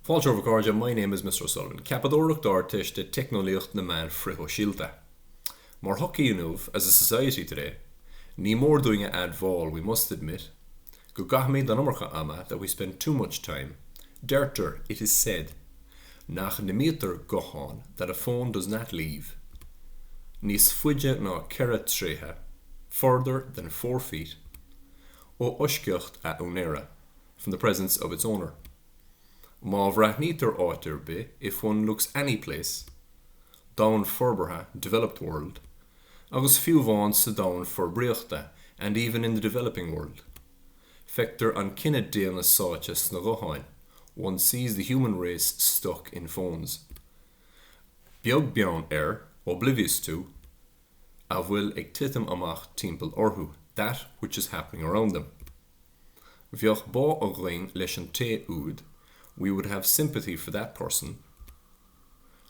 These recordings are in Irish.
Fáilte romhaibh a chairde, my name is Mr O'Sullivan, Ceapadóireacht d'Ardteiste Teicneolaíocht na Meán Frithshóisialta. Mar shochaí inniu, as a society today, ní mór dúinn a admháil, we must admit, go gcaithimid an iomarca ama, that we spend too much time, Deirtear, it is said, nach n-imítear guthán, that a phone does not leave, níos faide ná ceithre troighe, further than four feet, ó fhoisceacht a úinéara. from the presence of its owner'. Má bhreathnaítear áit ar bith, 'if one looks any place', domhan forbartha, 'developed world', agus fiú amháin sa domhan forbraíochta, 'and even in the developing world', feictear an cine daonna sáite sna gutháin, 'one sees the human race stuck in phones'. Beag beann ar, 'oblivious to', a bhfuil ag titim amach timpeall orthu, 'that which is happening around them'. Bheadh bá againn leis an té úd, we would have sympathy for that person.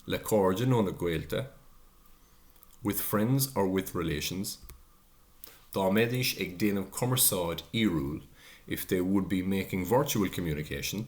Le cairde nó le gaolta, with friends or with relations. Dá mbeidís ag déanamh cumarsáid fhíorúil, if they would be making virtual communication.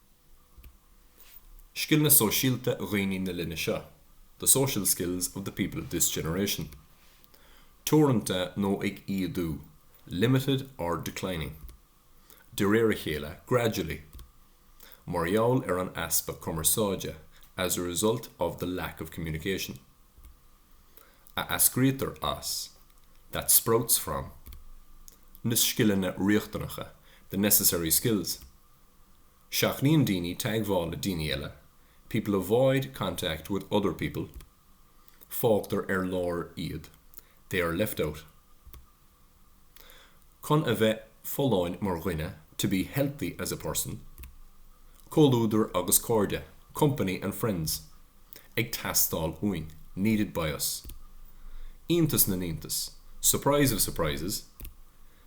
Scileanna sóisialta dhaoine na linne seo, the social skills of the people of this generation. Teoranta nó ag ídiú, limited or declining. De réir a chéile, gradually. Mar gheall ar an easpa cumarsáide, as a result of the lack of communication. A eascraítear as, that sprouts from. Na scileanna riachtanacha, the necessary skills. Seachnaíonn daoine teagmháil le daoine eile, people avoid contact with other people. Fágtar ar lár iad, they are left out. Chun a bheith folláin mar dhuine, to be healthy as a person. Comhluadar agus cairde, company and friends. Ag teastáil uainn, needed by us. Iontas na n-iontas, surprise of surprises.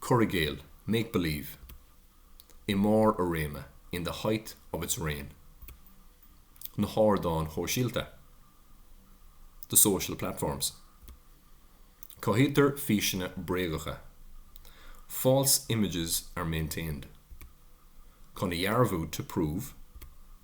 cur i gcéill, make believe, i mbarr a réime, in the height of its reign na hardáin shóisialta, the social platforms cothaítear físeanna bréagacha, false images are maintained chun a dhearbhú, to prove.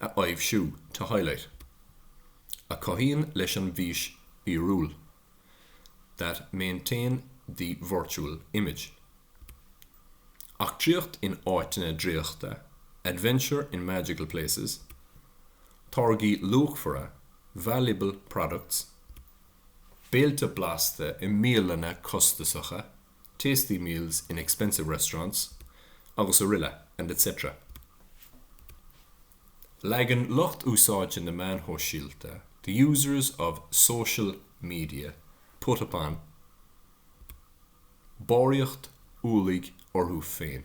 a aibhsiú, to highlight. a chothaíonn leis an bhfís fhíorúil, that maintain the virtual image. Eachtraíocht in áiteanna draíochta, adventure in magical places. Táirgí luachmhara, valuable products. Béilte blasta i mbialanna costasacha, tasty meals in expensive restaurants, agus araile and etc. Leagann lucht úsáidte na meán shóisialta The users of social media put upon barraíocht ualaigh orthu féin.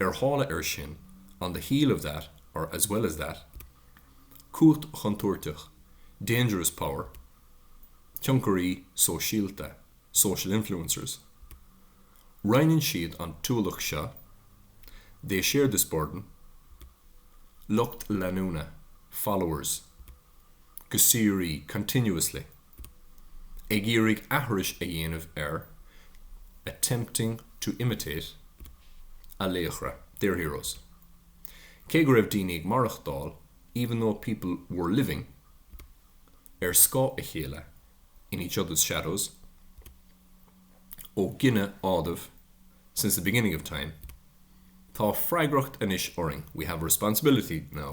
Ar shála air sin, on the heel of that or as well as that. Cumhacht chontúirteach, dangerous power. Tionchairí sóisialta, social influencers. Roinneann siad an t-ualach seo, they share this burden. Lucht leanúna, followers. Go síoraí, continuously. ag iarraidh aithris a dhéanamh ar attempting to imitate a laochra their heroes cé go raibh daoine ag maireachtáil even though people were living ar scáth a chéile in each other's shadows ó gineadh Ádhamh since the beginning of time tá freagracht anois orainn we have a responsibility now